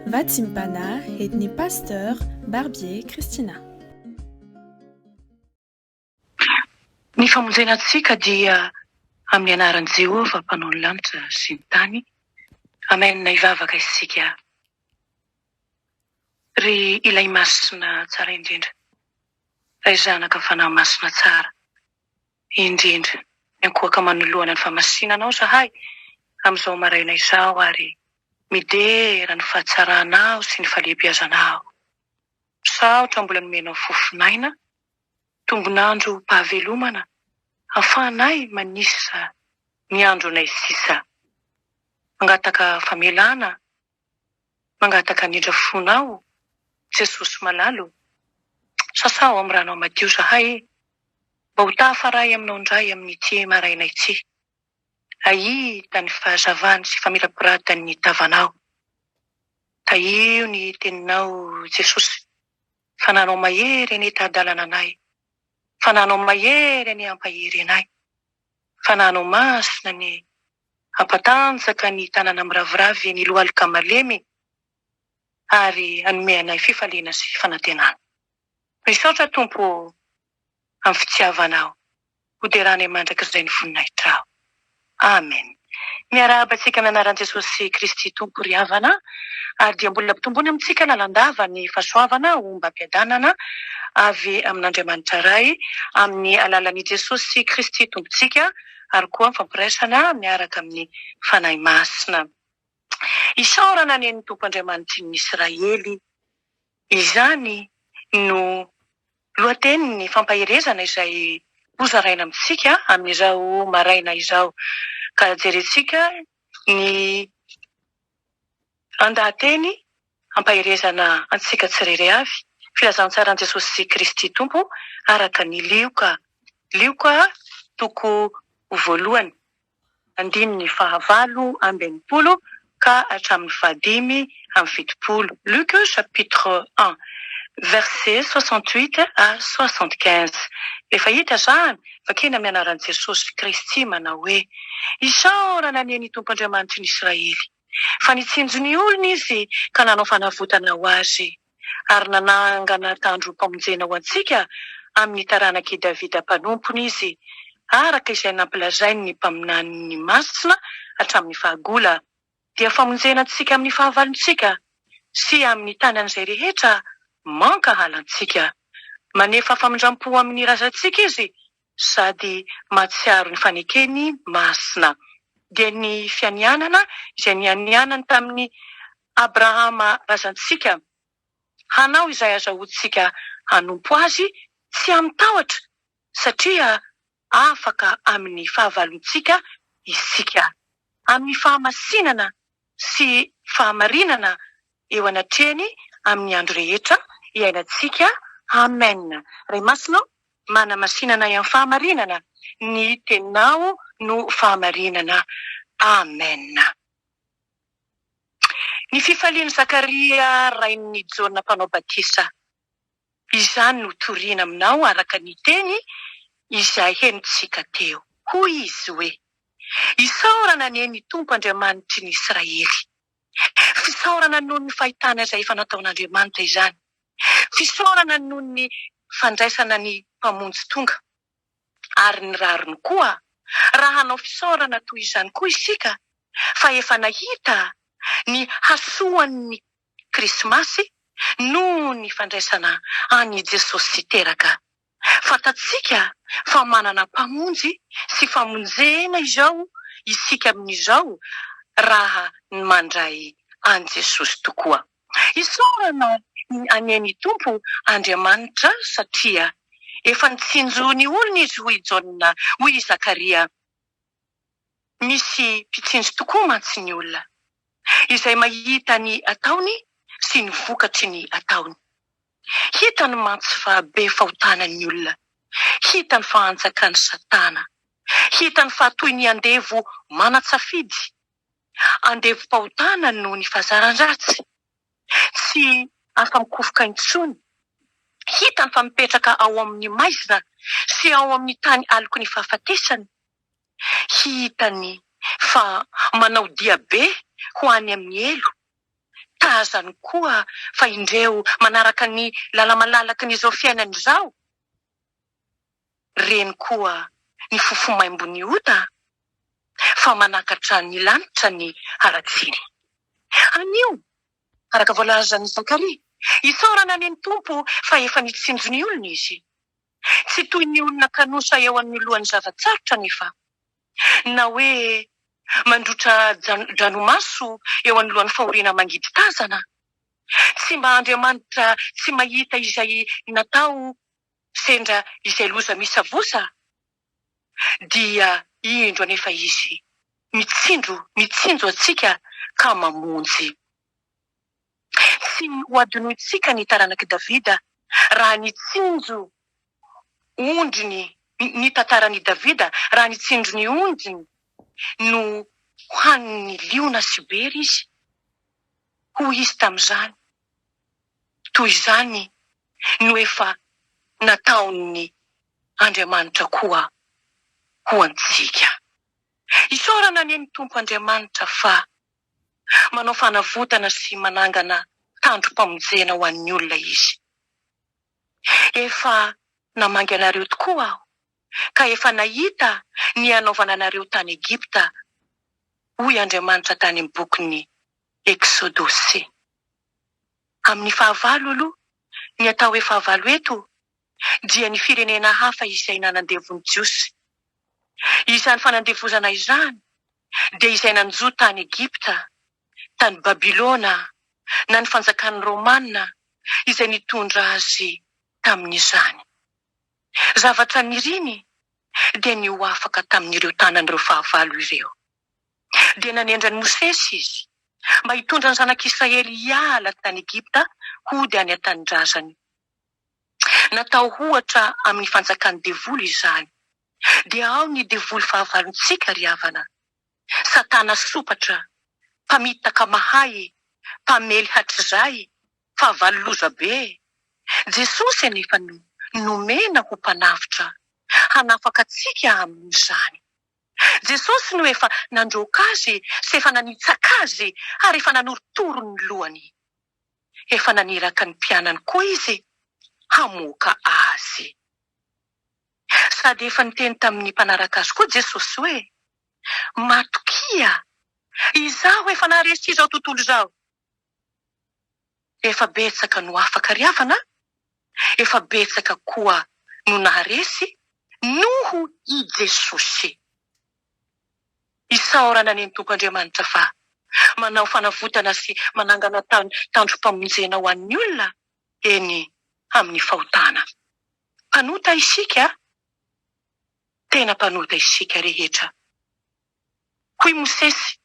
Vatsimbana edn'ny Pasteur Barbier Christina. Ny famonjena antsika dia amin'ny anaran'i Jehovah mpanao ny lanitra sy ny tany. Amen hivavaka isika Ry Ilay Masina tsara indrindra, Ray Zanaka Fanahy Masina tsara. indrindra. Miankohoka manoloana ny famasina Anao izahay amin'izao maraina izao ary midera ny fahatsaranao sy ny fahalehibiazanao. Misaotra mbola nomenao fofon'aina, tombon'androm-pahavelomana hahafahanay manisa ny andronay sisa. Mangataka famelana Mangataka anindra fona aho Jesosy malala o! Sasaho amin'ny ranao madio zahay e! Mba ho tahafaray aminao indray amin'ity maraina ity Ahita ny fahazavany sy famirapiratany ny tavanao Tahio ny teninao Jesosy Fananao mahery anie taha-dalana anay Fananao mahery anie hampahery anay Fananao masina anie Hampatanjaka ny tanana miraviravy ny lohalika malemy ary hanome anay fifaliana sy fanantenana. Misaotra Tompo ô amin'ny fitiavanao hoderanay mandrakizay ny voninahitrao. Amen. Miarahaba antsika amin'ny anaran'i Jesosy Kristy Tompo ry havana ary dia mbola ampitomboina amintsika lalandava ny fahasoavana ombam-piadanana avy amin'Andriamanitra Ray amin'ny alalan'i Jesosy Kristy Tompontsika ary koa fampiraisana miaraka amin'ny Fanahy Masina. Isaorana anie ny Tompo Andriamanitrin'ny Israely. Izany no lohatenin'ny fampaherezana izay hozaraina amintsika amin'izao maraina izao. Ka jerentsika ny andahateny. Hampaherezana antsika tsy rery avy filazantsaran'i Jesosy Kristy Tompo araka ny Lioka. Lioka toko voalohany, andininy fahavalo amby enimpolo ka hatramin'ny fahadimy amby fitopolo. Luc chapitre un verset soixante huit à soixante quinze. Efa hita izany fa kena mianaran'i Jesosy Kristy manao hoe, Isaorana anie ny Tompo Andriamanitry ny Israely. fa nitsinjo ny olony Izy ka nanao fanavotana ho azy, ary nanangana tandrom-pamonjena ho antsika amin'ny taranak'i Davida mpanompony Izy, araka izay nampilazainy ny mpaminaniny masina hatramin'ny fahagola, dia famonjena antsika amin'ny fahavalontsika, sy amin'ny tanan'izay rehetra mankahala antsika. Manefa famindram-po amin'ny razantsika Izy sady mahatsiaro ny fanekeny masina, dia ny fianianana izay nianianany tamin'i Abrahama razantsika, hanao izay azahoantsika hanompo azy tsy amin-tahotra, satria afaka amin'ny fahavalontsika isika, amin'ny fahamasinana sy fahamarinana eo anatrehany amin'ny andro rehetra iainantsika. Amen Ray Masina ô, manamasinana ahy amin'ny fahamarinana, ny Teninao no fahamarinana. Amen. Ny fifalian'i Zakaria rain'i Jaona Mpanao Batisa. Izany no toriana aminao araka ny teny izay henontsika teo. Hoy izy hoe, Isaorana anie ny Tompo Andriamanitry ny Israely. Fisaorana noho ny fahitana izay efa nataon'Andriamanitra izany. Fisaorana noho ny fandraisana ny Mpamonjy tonga. Ary ny rariny koa, raha hanao fisaorana toy izany koa isika fa efa nahita ny hasoan'ny Krismasy noho ny fandraisana an' i Jesosy teraka. Fantatsika fa manana Mpamonjy sy famonjena izao isika amin' izao raha ny mandray an'i Jesosy tokoa. Isaorana ny anie ny Tompo Andriamanitra satria efa nitsinjo ny olony izy hoy i Jaona, hoy i Zakaria. Misy mpitsinjo tokoa mantsy ny olona, izay mahita ny ataony sy ny vokatry ny ataony. Hitany mantsy fa be fahotana ny olona, hitany fa anjakan'i Satana, hitany fa toy ny andevo manan-tsafidy andevom-pahotana noho ny fahazaran-dratsy, tsy afa-mikofoka intsony, hitany fa mipetraka ao amin'ny maizina sy ao amin'ny tany aloky ny fahafatesana, hitany fa manao diabe ho any amin'ny helo, tazany koa fa indreo manaraka ny lala-malalaky ny izao fiainany izao. Reny koa ny fofo maimbo ny ota fa manakatra ny lanitra ny haratsiny. Anio, araka voalazan'i Zakaria, isaorana ny Tompo fa efa nitsinjo ny olony Izy. Tsy toy ny olona kanosa eo anoloan'ny zava-tsarotra anefa. na hoe mandrotra dranomaso eo anoloan'ny fahoriana mangidy tazana. Tsy mba Andriamanitra tsy mahita izay natao sendra izay loza misavosa, dia indro anefa Izy mitsinjo, mitsinjo antsika ka mamonjy. Tsy hohadinointsika ny taranak'i Davida raha nitsinjo ondry ny Ny tantaran'i Davida raha nitsinjo ny ondriny no hohanin'ny liona sy bery izy. Hoy izy tamin'izany, Toy izany no efa nataon'ny Andriamanitra koa ho antsika. Isaorana anie ny Tompo Andriamanitra fa Manao fanavotana sy manangana tandrom-pamonjena ho an'ny olona Izy. Efa namangy anareo tokoa Aho, ka efa nahita ny hanaovana anareo tany Egypta, hoy Andriamanitra tany amin'ny bokin'ny Eksodosy. Amin'ny fahavalo aloha, ny atao hoe fahavalo eto dia ny firenena hafa izay nanandevo ny Jiosy. Izany fanandevozana izany dia izay nanjo tany Egypta, tany Babylona, na ny fanjakan'ny Romana izay nitondra azy tamin'izany. Zavatra niriny dia ny ho afaka tamin'ireo tanan'ireo fahavalo ireo. Dia nanendry an'i Mosesy Izy mba hitondra ny zanak'Israely hiala tany Egypta hody any an-tanindrazany. Natao ohatra amin'ny fanjakan'ny devoly izany. Dia ao ny devoly fahavalontsika ry havana. Satana sompatra, mpamitaka mahay, mpamely hatrizay, fahavalo lozabe. Jesosy anefa no nomena ho mpanavotra, hanafaka antsika amin'izany. Jesosy no efa nandroaka azy sy efa nanitsaka azy ary efa nanorotoro ny lohany. Efa naniraka ny mpianany koa izy hamoaka azy. Sady efa niteny tamin'ny mpanaraka azy koa Jesosy hoe, Matokia, izaho efa naharesy izao tontolo izao. Efa betsaka no afaka ry havana, efa betsaka koa no naharesy noho i Jesosy. Isaorana ny Tompo Andriamanitra fa manao fanavotana sy manangana tany tandrom-pamonjena ho an'ny olona eny amin'ny fahotana. Mpanota isika, tena mpanota isika rehetra. Hoy Mosesy,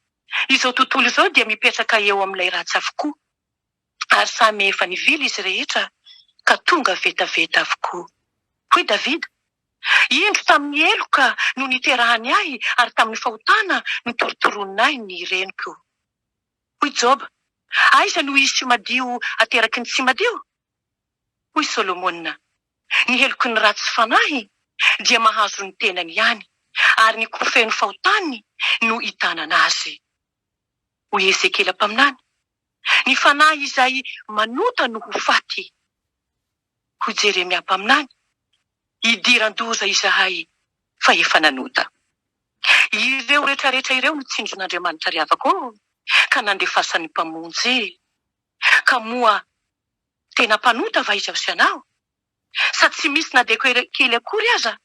Izao tontolo izao dia mipetraka eo amin'ilay ratsy avokoa. ary samy efa nivily izy rehetra ka tonga vetaveta avokoa. Hoy Davida, Indro tamin'ny heloka no niterahany ahy ary tamin'ny fahotana no torotoronin' ahy ny reniko. Hoy Joba, Aiza no hisy madio ateraky ny tsy madio? Hoy Solomona, Ny heloky ny ratsy fanahy dia mahazo ny tenany ihany, ary ny ko feno fahotany no itanana azy. Hoy Ezekiela mpaminany. Ny fanahy izay manota no ho faty. Hoy Jeremia mpaminany, Idiran-doza izahay, fa efa nanota. Ireo retraretra ireo no tsindrin'Andriamanitra ry havako ô, ka nandefasany Mpamonjy. Ka moa tena mpanota va izaho sy ianao? Sa tsy misy na dia kely akory aza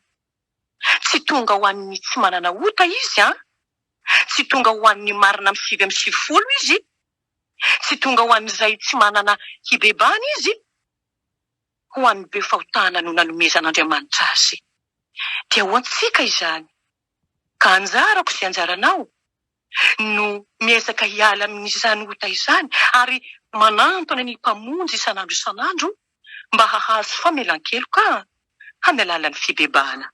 Tsy tonga ho an'ny tsy manana ota Izy an! Tsy tonga ho an'ny marina amin'ny sivy amby sivifolo Izy, tsy tonga ho an'izay tsy manana hibebahana Izy, ho an'ny be fahotana no nanomezan'Andriamanitra Azy. Dia ho antsika izany. Ka anjarako sy anjaranao no miezaka hiala amin'izany ota izany ary manantona ny Mpamonjy isan'andro isan'andro mba hahazo famelan-keloka amin'ny alalan'ny fibebahana.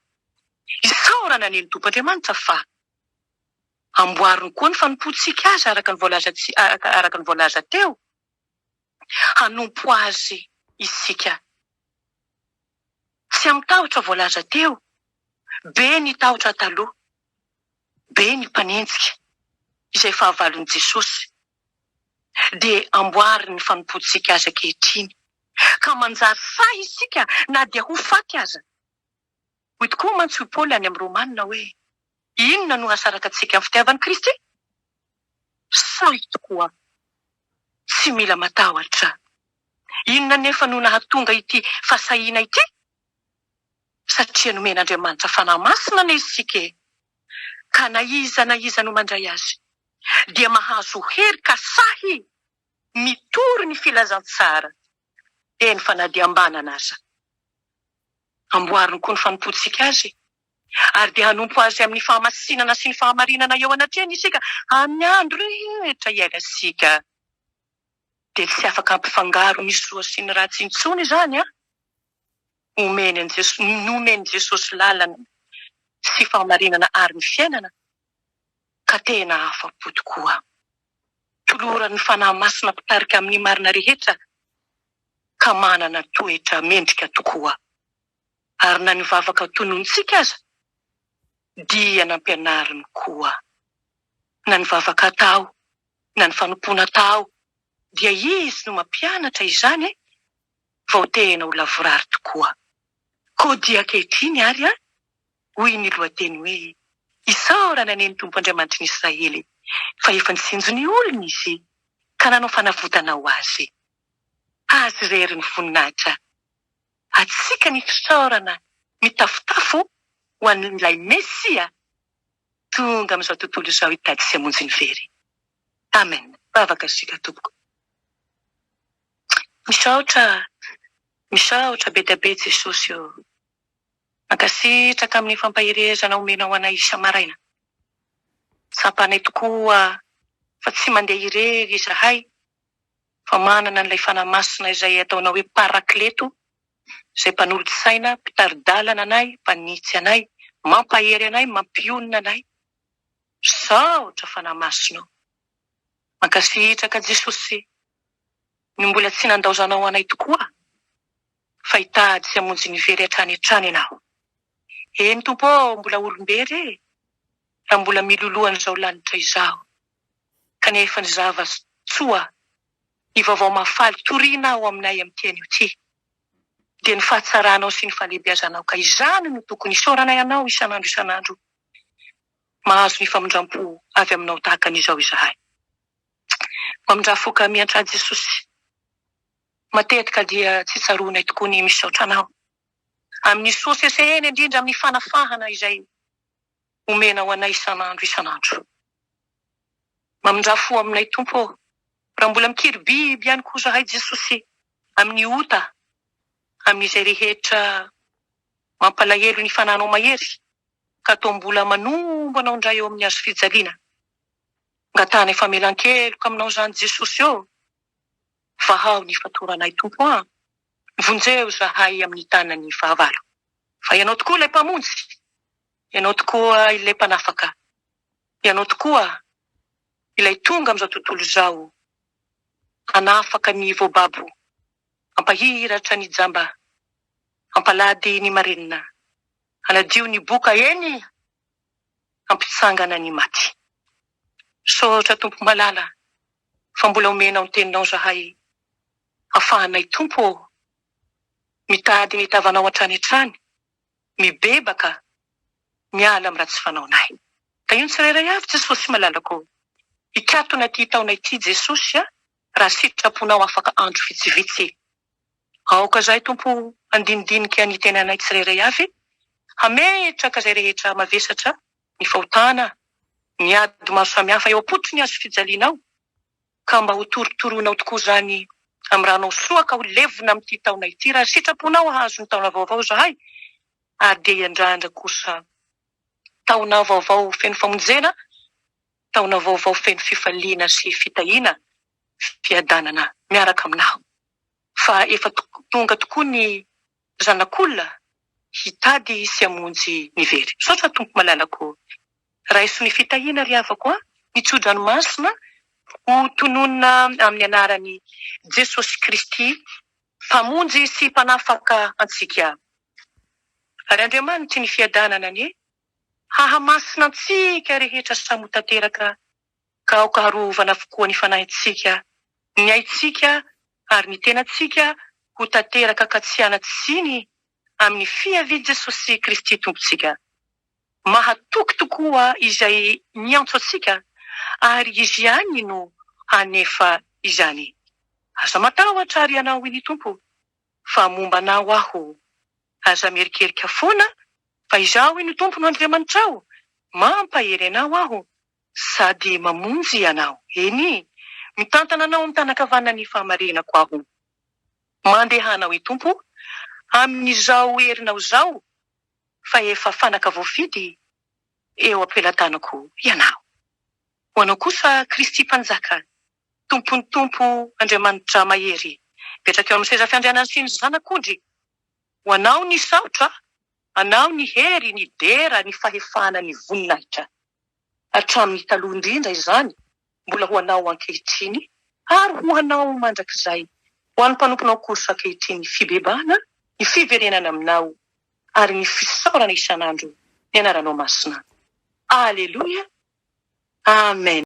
Isaorana anie ny Tompon'Andriamanitra fa amboariny koa ny fanompoantsika Azy araka ny voalazantsika araka ny voalaza teo, hanompo Azy isika. Tsy amin'ny tahotra voalaza teo, be ny tahotra taloha be ny mpanenjika izay fahavalon'i Jesosy, dia amboary ny fanompoantsika azy ankehitriny, ka manjary sahy isika na dia ho faty aza. Hoy tokoa mantsy hoy Paoly any amin'ny Romana hoe, Inona no hahasaraka antsika amin'ny fitiavan'i Kristy? Sahy tokoa. Tsy mila matahotra. Inona anefa no nahatonga ity fahasahiana ity? satria nomen'Andriamanitra fanahy masina anie isika e! ka na iza na iza no mandray azy dia mahazo hery ka sahy mitory ny filazantsara dia ny fanadiham-banana aza. Amboariny koa ny fanompoantsika azy ary dia hanompo azy amin'ny fahamasinana sy ny fahamarinana eo anatrehany isika amin'ny andro rehetra iainantsika. Dia tsy afaka hampifangaro ny soa sy ny ratsy intsony izany an! omeny an'i Jesosy, nomen'i Jesosy lalana sy fahamarinana ary ny fiainana, ka tena afa-po tokoa. Toloran'ny Fanahy Masina mpitarika amin'ny marina rehetra ka manana toetra mendrika tokoa. Ary na ny vavaka tononitsika aza dia nampianariny koa. Na ny vavaka atao, na ny fanompoana atao. Dia izy no mampianatra izany vao tehena ho lavorary tokoa. Koa dia ankehitriny ary an, hoy ny lohateny hoe, Isaorana anie ny Tompo Andriamanitry ny Israely, fa efa nitsinjo ny olony Izy, ka nanao fanavotana ho Azy. Azy irery ny voninahitra. Atsika ny fisaorana mitafotafo ho an'ilay Mesia tonga amin'izao tontolo izao hitady sy hamonjy ny very. Amen vavaka isika tompoko. Misaotra misaotra be dia be Jesosy ô. Mankasitraka amin'ny fampaherezana omenao anay isa-maraina. Tsapanay tokoa fa tsy mandeha irery izahay fa manana an'ilay Fanahy Masina izay ataonao hoe Parakleto izay mpanolotsaina, mpitari-dalana anay, mpanitsy anay, mampahery anay, mampionona anay. Misaotra fanahy masinao. Mankasitraka Jesosy no mbola tsy nandaozanao anay tokoa fa hitady sy hamonjy ny very hatrany hatrany ianao. Eny Tompo ô mbola olombery e raha mbola miloloha an'izao lanitra izao kanefa ny zava tsoa ny vaovao mahafaly toriana ao aminay amin'ity anio ity dia ny fahatsaranao sy ny fahalehibeazanao ka izany no tokony isaoranay anao isan'andro isan'andro mahazo ny famindrampo avy aminao tahaka an'izao izahay. Mamindrà foka miantrà Jesosy. Matetika dia tsy tsaroanay tokoa ny misaotra Anao amin'ny soa sesehena indrindra amin'ny fanafahana izay omenao anay isan'andro isan'andro. Mamindrà fo aminay Tompo ô, raha mbola mikiribiby ihany koa izahay Jesosy amin'ny ota, amin'izay rehetra Mampalahelo ny fananao mahery ka toa mbola manombo anao indray eo amin'ny hazo fijaliana. Angatahana famelan-keloka aminao izany Jesosy ô! Vahaho ny fatoranay Tompo an! Vonjeo izahay amin'ny tanan'ny fahavalo. Fa Ianao tokoa ilay Mpamonjy, Ianao tokoa ilay Mpanafaka, Ianao tokoa ilay tonga amin'izao tontolo izao hanafaka ny voababo Hampahiratra ny jamba Hampalady ny marenina Hanadio ny boka eny Hampitsangana ny maty Misaotra Tompo malala Fa mbola omenao ny teninao zahay Hafahanay Tompo ô Mitady ny tavanao hatrany hatrany Mibebaka Miala am ratsy fanaonay Tahio ny tsirairay avy Jesosy malalakô Hikatona ty taona ity Jesosy a. raha sitraponao afaka andro vitsivitsy. Aoka izahay, Tompo, handinidinika ny tenanay tsirairay avy, hametraka izay rehetra mavesatra, ny fahotana, ny ady maro samihafa eo am-pototry ny hazofijalianao, ka mba hotorotoroinao tokoa izany amin'ny ranao soa, ka ho levona amin'ity taona ity, raha sitraponao hahazo ny taona vaovao izahay, ary dia hiandrandra kosa taona vaovao feno famonjena. Taona vaovao feno fifaliana sy fitahiana fiadanana miaraka aminao fa efa tonga tokoa ny zanak'olona hitady sy hamonjy ny very. Misaotra Tompo malalako ô. Raiso ny fitahiana ry havako a, ny tsodranomasina ho tononina amin'ny anaran'i Jesosy Kristy mpamonjy sy mpanafaka antsika. Ary Andriamanitry ny fiadanana anie Hahamasina antsika rehetra samy ho tanteraka ka aoka harovana avokoa ny fanahintsika, ny aintsika ary ny tenantsika ho tanteraka ka tsy hanatsiny amin'ny fiavian'i Jesosy Kristy Tompontsika. Mahatoky tokoa Izay miantso antsika ary Izy ihany no hanefa izany. Aza matahotra ry ianao ny Tompo. fa momba anao aho. Aza mierikerika foana fa Izaho iny Tomponao Andriamanitrao, mampahery anao Aho sady mamonjy anao, eny, mitantana anao amin'ny tanan-kavanan'ny fahamarinako Aho. Mandehana hoy Tompo, amin'izao herinao izao, fa efa fanaka voafidy eo am-pelatanako ianao. Ho anao kosa Kristy Mpanjaka Tompon'ny Tompo Andriamanidra Mahery mipetraka eo amin'ny seza fiandrianan'ny sy ny Zanak'ondry, ho Anao ny saotra, Anao ny hery, ny dera, ny fahefana, ny voninahitra. Hatramin'ny taloha indrindra izany, mbola ho Anao ankehitriny, ary ho Anao mandrakizay, ho an'ny mpanomponao Korsa ankehitriny ny fibebahana, ny fiverenana Aminao, ary ny fisaorana isan'andro ny Anaranao Masina. Aleloia! Amen!